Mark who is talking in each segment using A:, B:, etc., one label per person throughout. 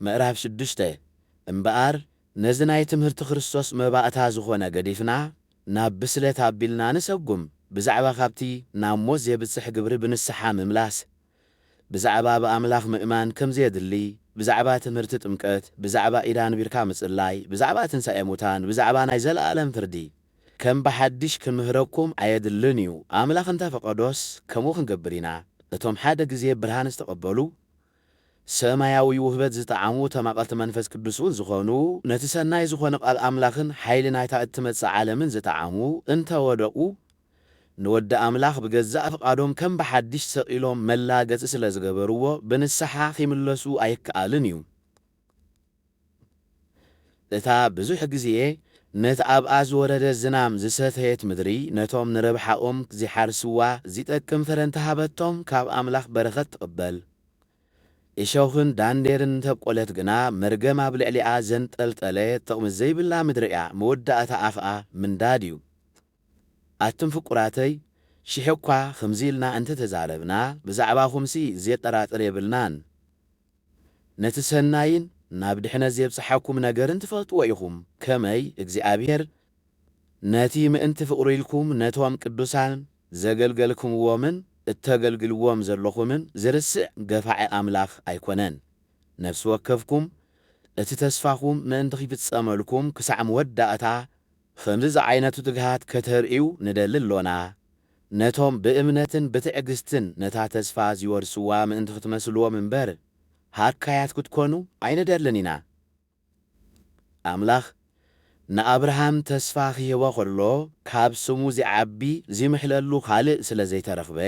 A: ምዕራፍ ሽዱሽተ እምበኣር ነዚ ናይ ትምህርቲ ክርስቶስ መባእታ ዝኾነ ገዲፍና ናብ ብስለት ኣቢልና ንሰጉም፣ ብዛዕባ ካብቲ ናብ ሞት ዜብጽሕ ግብሪ ብንስሓ ምምላስ፣ ብዛዕባ ብኣምላኽ ምእማን ከም ዜድሊ፣ ብዛዕባ ትምህርቲ ጥምቀት፣ ብዛዕባ ኢድ ኣንቢርካ ምጽላይ፣ ብዛዕባ ትንሳኤ ሙታን፣ ብዛዕባ ናይ ዘለኣለም ፍርዲ፣ ከም ብሓድሽ ክንምህረኩም ኣየድልን እዩ፣ ኣምላኽ እንተ ፈቐዶስ ከምኡ ክንገብር ኢና፣ እቶም ሓደ ግዜ ብርሃን ዝተቐበሉ፣ ሰማያዊ ውህበት ዝጠዓሙ ተማቐልቲ መንፈስ ቅዱስ'ውን ዝኾኑ፣ ነቲ ሰናይ ዝኾነ ቃል ኣምላኽን ሓይሊ ናይታ እትመጽእ ዓለምን ዝጠዓሙ እንተ ወደቑ፣ ንወዲ ኣምላኽ ብገዛእ ፍቓዶም ከም ብሓድሽ ሰቒሎም መላገጺ ስለ ዝገበርዎ፣ ብንስሓ ኺምለሱ ኣይከኣልን እዩ። እታ ብዙሕ ግዜ ነቲ ኣብኣ ዝወረደ ዝናም ዝሰተየት ምድሪ፣ ነቶም ንረብሓኦም ዚሓርስዋ ዚጠቅም ፍረ እንተ ሃበቶም፣ ካብ ኣምላኽ በረኸት ትቕበል። እሾኽን ዳንዴርን እንተ ኣብቈለት ግና፣ መርገም ኣብ ልዕሊኣ ዘንጠልጠለ ጥቕሚ ዘይብላ ምድሪ እያ፣ መወዳእታኣ ኸኣ ምንዳድ እዩ። ኣቱም ፍቁራተይ፣ ሽሕ'ኳ ኸምዚ ኢልና እንተ ተዛረብና፣ ብዛዕባኹምሲ ዜጠራጥር የብልናን። ነቲ ሰናይን ናብ ድሕነት ዜብጽሓኩም ነገርን ትፈልጥዎ ኢኹም፣ ከመይ እግዚኣብሄር ነቲ ምእንቲ ፍቕሩ ኢልኩም ነቶም ቅዱሳን ዘገልገልክምዎምን እተገልግልዎም ዘሎኹምን ዚርስዕ ገፋዒ ኣምላኽ ኣይኰነን። ነፍሲ ወከፍኩም እቲ ተስፋኹም ምእንቲ ኺፍጸመልኩም ክሳዕ መወዳእታ ብኸምዚ ዝዓይነቱ ትግሃት ከተርእዩ ንደሊ ኣሎና፣ ነቶም ብእምነትን ብትዕግስትን ነታ ተስፋ ዚወርስዋ ምእንቲ ኽትመስልዎም እምበር፣ ሃካያት ክትኰኑ ኣይንደልን ኢና። ኣምላኽ ንኣብርሃም ተስፋ ኺህቦ ኸሎ፣ ካብ ስሙ ዚዓቢ ዚምሕለሉ ኻልእ ስለ ዘይተረኽበ፣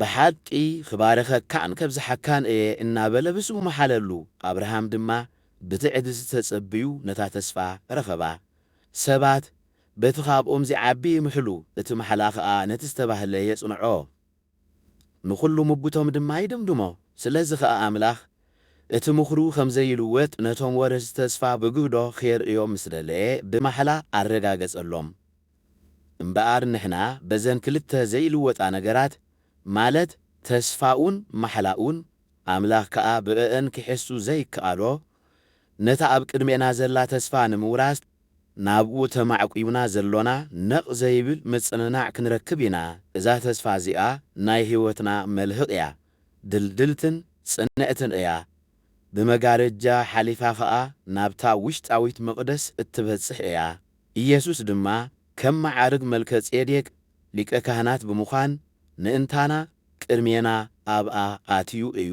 A: ብሓቂ ኽባርኸካን ከብዝሓካን እየ እናበለ ብስሙ መሓለሉ። ኣብርሃም ድማ ብትዕግስቲ ተጸብዩ ነታ ተስፋ ረኸባ። ሰባት በቲ ኻብኦም ዚዓቢ ይምሕሉ፣ እቲ ማሕላ ኸኣ ነቲ ዝተባህለ የጽንዖ። ንዅሉ ምጕቶም ድማ ይድምድሞ። ስለዚ ኸኣ ኣምላኽ እቲ ምኽሩ ኸም ዘይልወጥ ነቶም ወረስቲ ተስፋ ብግህዶ ኼርእዮም ምስ ደለየ ብማሕላ ኣረጋገጸሎም። እምበኣር ንሕና በዘን ክልተ ዘይልወጣ ነገራት ማለት ተስፋኡን ማሕላኡን ኣምላኽ ከኣ ብእእን ኪሕሱ ዘይከኣሎ ነታ ኣብ ቅድሜና ዘላ ተስፋ ንምውራስ ናብኡ ተማዕቊብና ዘሎና ነቕ ዘይብል ምጽንናዕ ክንረክብ ኢና እዛ ተስፋ እዚኣ ናይ ሕይወትና መልህቕ እያ ድልድልትን ጽንዕትን እያ ብመጋረጃ ሓሊፋ ከኣ ናብታ ውሽጣዊት መቕደስ እትበጽሕ እያ ኢየሱስ ድማ ከም መዓርግ መልከጼዴቅ ሊቀ ካህናት ብምዃን ምእንታና ቅድሜና ኣብኣ ኣትዩ እዩ።